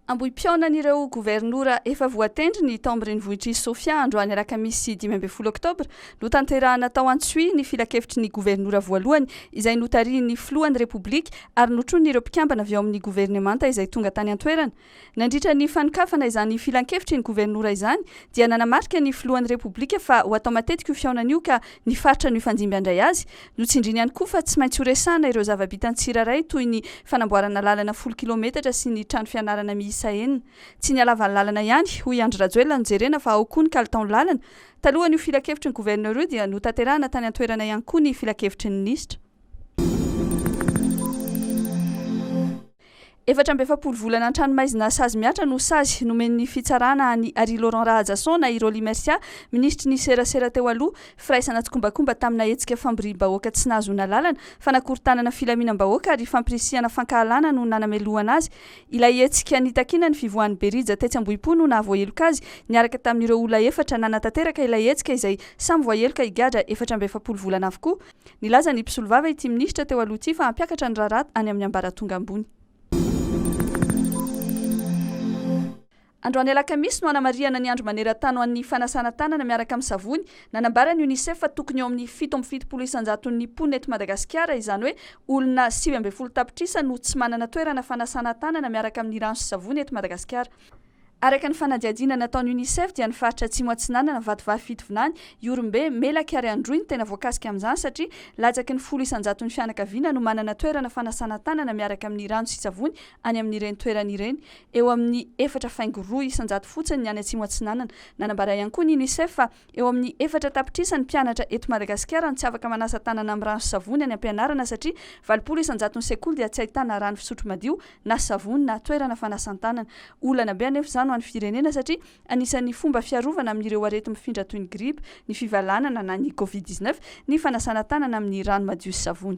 Ambohim-pihaonan'ireo governora efa voatendry ny tao amin'ny renivohitr'i Sofia androany alakamisy dimy ambin'ny folo oktobra no tanterahana tao Antsohihy ny filankevitry ny governora voalohany izay notarihin'ny filohan'ny Repoblika ary notronin'ireo mpikambana avy ao amin'ny governemanta izay tonga tany an-toerana Nandritra ny fanokafana izany filankevitry ny governora izany dia nanamarika ny filohan'ny Repoblika fa ho atao matetika io fihaonana io ka ny faritra nifandimby handray azy no tsindriany ihany koa fa tsy maintsy horesahana ireo zava-bitan'ny tsirairay toy ny fanamboarana lalana folo kilometatra sy ny trano fianarana miisa enina tsy ny halavan'ny lalana ihany hoy Andry Rajoelina nojerena fa ao koa ny kalitaon-lalana. Talohan'io filankevitry ny governora io dia notanterahana tany an-toerana ihany koa ny filankevitry ny minisitra. Efatra amby efapolo volana an-tranomaizina sazy mihatra no sazy nomen'ny fitsarana an'i Harry Laurent Rahajason na i Rolly Mercia, minisitry ny serasera teo aloha, firaisana tsikombakomba tamina hetsika famboriam-bahoaka tsy nahazoana lalana, fanakorontanana filaminam-bahoaka ary fampirisihana fankahalana no nanamelohana azy. Ilay hetsika nitakiana ny fivoahan'i Berija tetsy Ambohipo no nahavoaheloka azy, niaraka tamin'ireo olona efatra nanatanteraka ilay hetsika izay samy voaheloka higadra efatra amby efapolo volana avokoa. Nilaza ny mpisolovava ity minisitra teo aloha ity fa hampiakatra ny raharaha any amin'ny ambaratonga ambony. Androany alakamisy no hanamarihana ny andro maneran-tany ho an'ny fanasana tanana miaraka amin'ny savony. Nanambara ny Unicef fa tokony eo amin'ny fito amby fitopolo isan-jaton'ny mponina eto Madagasikara, izany hoe olona sivy ambin'ny folo tapitrisa no tsy manana toerana fanasana tanana miaraka amin'ny rano sy savony eto Madagasikara. Araka ny fanadihadiana nataon'ny Unicef dia ny faritra Atsimo Atsinanana, Vatovavy Fitovinany, Ihorombe, Melaky ary Androy no tena voakasika amin'izany satria latsaky ny folo isan-jaton'ny fianakaviana no manana toerana fanasana tanana miaraka amin'ny rano sy savony any amin'ireny toerana ireny eo amin'ny efatra faingo roa isan-jato fotsiny ny any Atsimo Atsinanana. Nanambara ihany koa ny Unicef fa Eo amin'ny efatra tapitrisa ny mpianatra eto Madagasikara no tsy afaka manasa tanana amin'ny rano sy savony any am-pianarana satria valopolo isan-jaton'ny sekoly dia tsy ahitana rano fisotro madio na savony na toerana fanasan-tanana. Olana be anefa izany ho an'ny firenena satria anisan'ny fomba fiarovana amin'ireo areti-mifindra toy ny gripa, ny fivalanana na ny covid dix neuf ny fanasana tanana amin'ny rano madio sy savony.